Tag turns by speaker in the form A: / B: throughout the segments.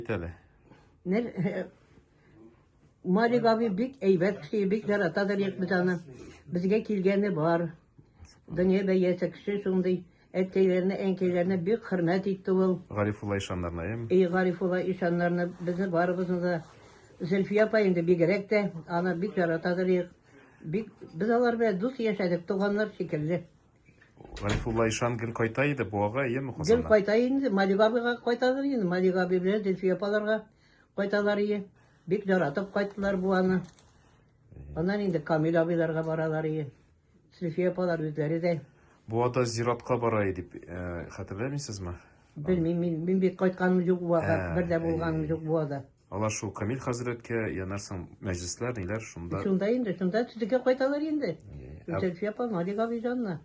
A: Әйт әле. Нер э, Малик абый бик әйбәт кеше, бик яратадыр ек без аны. Безгә килгәне бар. Дөнья бәясе кеше шундый әткәйләренә, әнкәйләренә бик хөрмәт итте ул. Гарифулла ишаннарына, эм? И Гарифулла ишаннарны безне барыбызны да Зөлфия апа инде бигрәк тә аны бик яратадыр ек. Бик без алар белән дус яшәдек, туганнар шикелле. Гарифулла ишан гел кайта иде Буага, әйеме, Казаннан? Гел кайта инде, Малик абыйга кайтадыр инде, Малик абый белән Зөлфия апаларга кайталар ие. Бик яратып кайттылар Буаны. Аннан инде Камил абыйларга баралар ие. Зөлфия апалар үзләре дә. Буада зиратка бара иде дип э, хәтерләмисезме? Белмим, мин, мин бик кайтканым юк Буага, Ә, бер дә булганым әйе. юк Буада. Алар шул Камил хәзрәткә янарсың мәҗлесләр, ниләр шунда. Шунда инде, шунда төзеккә кайталар инде. Зөлфия апа, Малик абый җанына.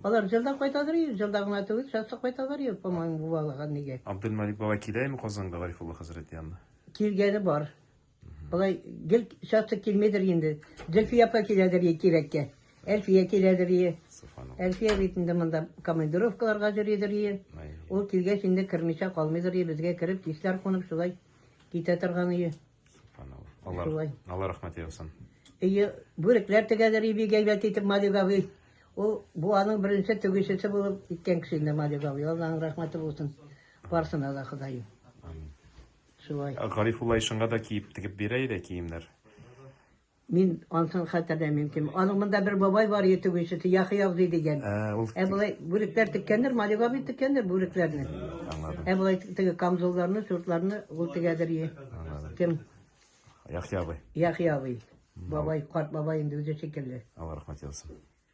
A: Алар җылда кайтадыр, җылда гына түгел, часто кайталар, помоему, бувалыга нигә. Абделмалик бабай киләме Казанга Гарифулла хәзрәт янына? Килгәне бар. Болай гел часто килмидер инде. Зөлфия апа киләдер кирәккә. Әлфия киләдер ие. Әлфия бит инде монда командировкаларга йөридер ие. Ул килгәч инде кермичә калмыйдыр ие, безгә кереп кичләр кунып шулай китә торган ие. Алар, алар рәхмәт яусын. Ие, бүрекләр тегәдер ие бик әйбәт итеп Малигавый. Ул бу аның беренче тегүчесе булып киткән кеше инде Малигавый. Алланың рәхмәте булсын. Барсына да Ходаем. Шулай. Гарифулла ишанга да киеп тегеп бирә иде киемнәр. Мин ансын хәтерләмим, дим. Аның монда бер бабай бар иде тегүчесе, Яхый абзый дигән. Ә, ул Ә болай бүрекләр теккәндер, Малик абый теккәндер бүрекләрне. аңладым. Ә болай теге камзулларны, шортларны ул тегәдер ие. Аңладым. Кем? Яхъя абый. Яхый абый. Бабай, карт бабай инде үзе шикелле. Алла рәхмәт яусын.